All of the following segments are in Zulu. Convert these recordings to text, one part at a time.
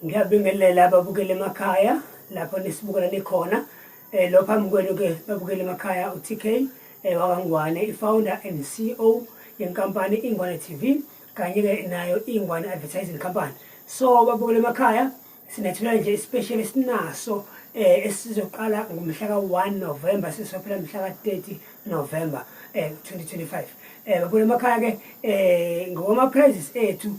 Ngiyabingelela ababukeli emakhaya lapho nisibukela nikhona eh, lo phambi kwenu-ke babukeli emakhaya u-tk eh, wakangwane i-founder and ceo yenkampani ingwane tv kanye-ke nayo ingwane advertising company so babukela emakhaya sinethula nje isipesheli esinaso um eh, esizoqala ngomhla ka-one november sisophela mhla ka-thirty november um twenty twenty five um babukela emakhaya-ke um ngokwama-prizes ethu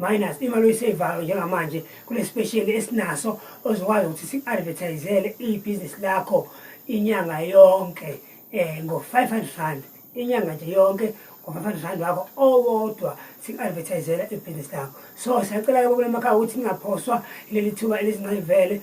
minus imali oyisevayo njengamanje kule special esinaso ozokwazi ukuthi si-advertisele ibhizinisi lakho inyanga yonke um eh, ngo-five hundred rand inyanga nje yonke ngo-five hundred rand wakho owodwa si-advertisela ibhizinisi lakho so siyacela-ke kule makhaya ukuthi ningaphoswa leli thuba elizincayivele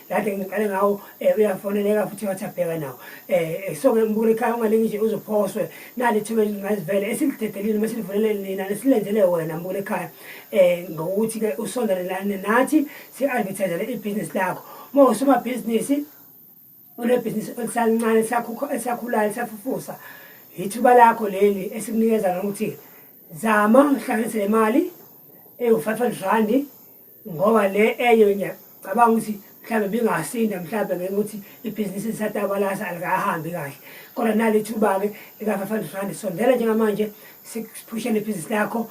kade ngiqale ngawo um uyafoneleka futhi ngathi abheka nawo um so-ke ngibukela ekhaya ungalingi nje uzophoswe nali ithuba elingazivele esilidedekile uma silivulele nina nesilenzele wena ngibukela ekhaya um ngokuthi-ke usondelelane nathi si-advertisele ibhizinisi lakho uma usomabhizinisi unebhizinisi elisalincane esakhulayo lisafufusa yithuba lakho leli esikunikeza lokuthi zama uhlanganise le mali ewu-five hundred randi ngoba le enye ngiyacabanga ukuthi mhlawumbe bingasinda mhlawumbe ngenxa ukuthi ibhizinisi lisatabalasa alikahambi kahle kodwa nali thuba-ke lika-five hundred rand sondela njengamanje siphushele ibhizinisi lakho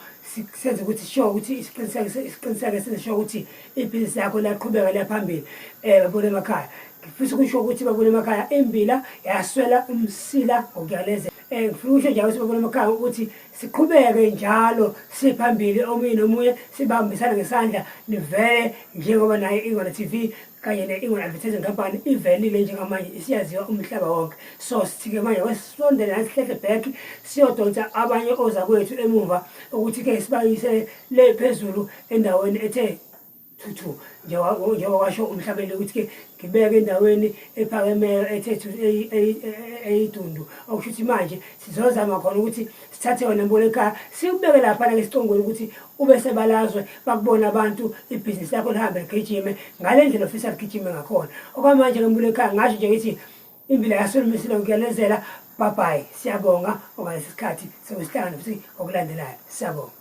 senze ukuthi sisho ukuthi isiqiniseke senze sho ukuthi ibhizinisi lakho liyaqhubeka liyaphambili um eh, babona emakhaya ngifisa ukusho ukuthi babona emakhaya imbila yaswela umsila ngokuyalezela um ngifuna ukusho njalo ukuthi babona emakhaya ukuthi Siqhubeke njalo siphambili omunye nomunye sibambisana ngesandla nivele njengoba naye Ingwala TV kanye ne-Ingwala Advertising Company ivelile njengamanje isiyaziwa umhlaba wonke. So sithike manje kwesondela nasihleke back siyodonsa abanye ozakwethu emuva ukuthi-ke sibayise le phezulu endaweni ethe thuthu njengoba washo umhlabeni ukuthi-ke ngibeke endaweni ephakemeyo ethethu eyidundu okusho ukuthi manje sizozama khona ukuthi sithathe yona mbona ekhaya sikubeke laphana-ke esicongweni ukuthi ube sebalazwe bakubona abantu ibhizinisi lakho lihambe ligijime ngale ndlela ofisa ligijime ngakhona okwamanje-ke mbona ekhaya ngasho nje ngithi impilo yasolumisile ngikuyanezela babhayi siyabonga okanye sesikhathi sokusihlangana futhi okulandelayo siyabonga